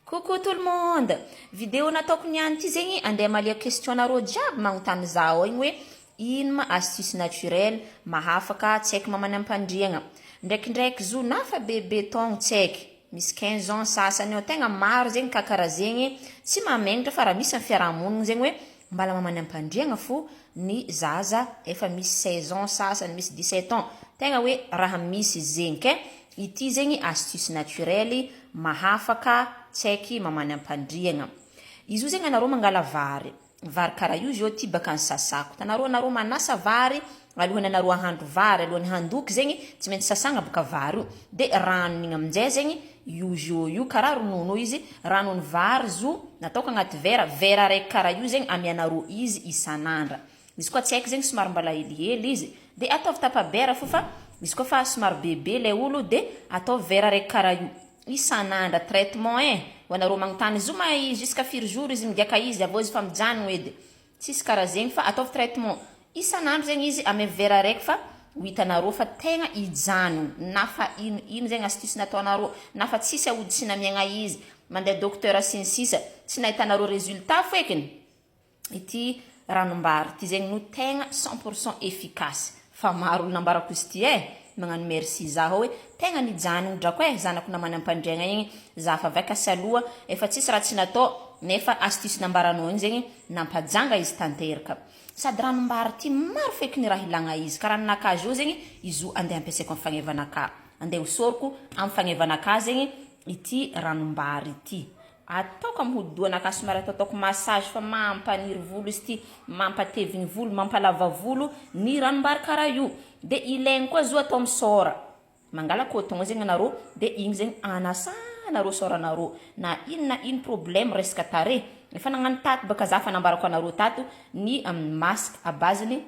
Coucou tout le monde! Video nataoko niany ty zegny andeha amaliako question nareo jiaby magnontany za ao igny hoe ino ma astuce naturel mahafaka tsy haiko mamany ampandriagna. Ndraikindraiky zo nafa bebe taogno tsy haiky misy quinze ans sasany eo tegna maro zegny ka kara zegny tsy mamegnatra fa ra misy am fiarahamonigny zegny hoe mbala mamany ampandriagna fo ny zaza efa misy seize ans sasany misy dix sept ans tegna hoe raha misy zegny kay Ity zegny astuce naturel mahafaka tsaiky mamany ampandriagna. Izy io zegny anarô mangala vary, vary kara io zio ty baka nsasako, itanarô anarô manasa vary alohany anarô ahandro vary alohany handoky zegny tsy maintsy sasagna baka vary io de ranony igny amizay zegny io zio io kara ronono io izy ranony vary zo nataoko agnaty vera, vera araiky kara io zegny amianarô izy isanandra. Izy koa tsy haiko zegny somary mbala helihely izy de ataovy tapa bera fo fa izy koa fa somary bebe lay olo de ataovy vera raiky kara io isan'andra traitement eh ho anareo magnontany izy io ma jusqu'à firy jour izy migiaka izy avy eo izy fa mijanogno edy tsisy kara zegny fa ataovy traitement isan'andro zegny izy amy vera raiky fa ho hitanareo fa tegna hijanogno na fa ino ino zegny astuce nataonareo na fa tsisy aody sy namiagna izy mandeha docteur sy ny sisa tsy nahitanareo résultat fo ekiny. ity ranombary ity zegny no tegna cent pour cent efficace fa maro olo nambarako izy ity eh magnano merci za hô hoe tegna nijanogno drako eh zanako namany ampandriagna igny za fa avy akasy aloha efa tsisy raha tsy natao nefa astuce nambaranao igny zegny nampajanga izy tanteraka sady ranombary ty maro feky ny raha ilagna izy karaha ninakà zô zegny izy io andeha ampiasaiko am fagneva anakà andeha hosoroko am fagneva anakà zegny ity ranombary ity ataoko am hodidohana ka somary ataotaoko massage fa mampaniry volo izy ity mampatevy ny volo mampalava volo ny ranombary kara io de ilaigny koa zo atao am sora mangala coton zegny anarô de igny zegny anasanarô soranarô na ino na ino problème resaka tarehy efa nagnano tato baka za fa nambarako anarô tato ny masque à base ny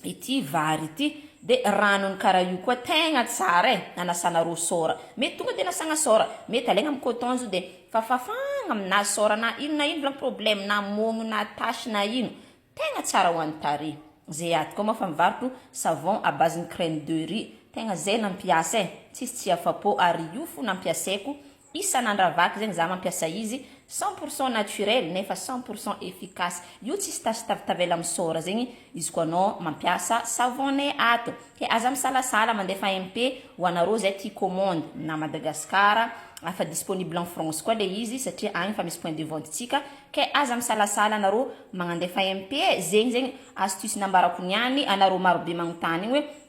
ity vary ity de ranony kara io koa tegna tsara e anasana rosora mety tonga de anasagna sora mety alaigna am coton zo de fafafagna aminazy sora na ino na ino zany problème na mogno na tache na ino tegna tsara ho any tarehy ze aty koa moa efa mivarotro savon à base ny crème de riz tegna ze nampiasa e tsisy tsy afa po ary io fo nampiasaiko Isa nandravako zegny za mampiasa izy, cent pour cent naturel nefa cent pour cent efficace, io tsisy tache tav tavela misaora zegny izy koa anao mampiasa savone ato, ke aza misalasala mandefa MP ho anareo zay tia commande na Madagascar fa disponible en France koa le izy satria agny efa misy point de vente tsika, ke aza misalasala anareo magnandefa MP e, zegny zegny astuce nambarako niany anareo marobe magnontany igny hoe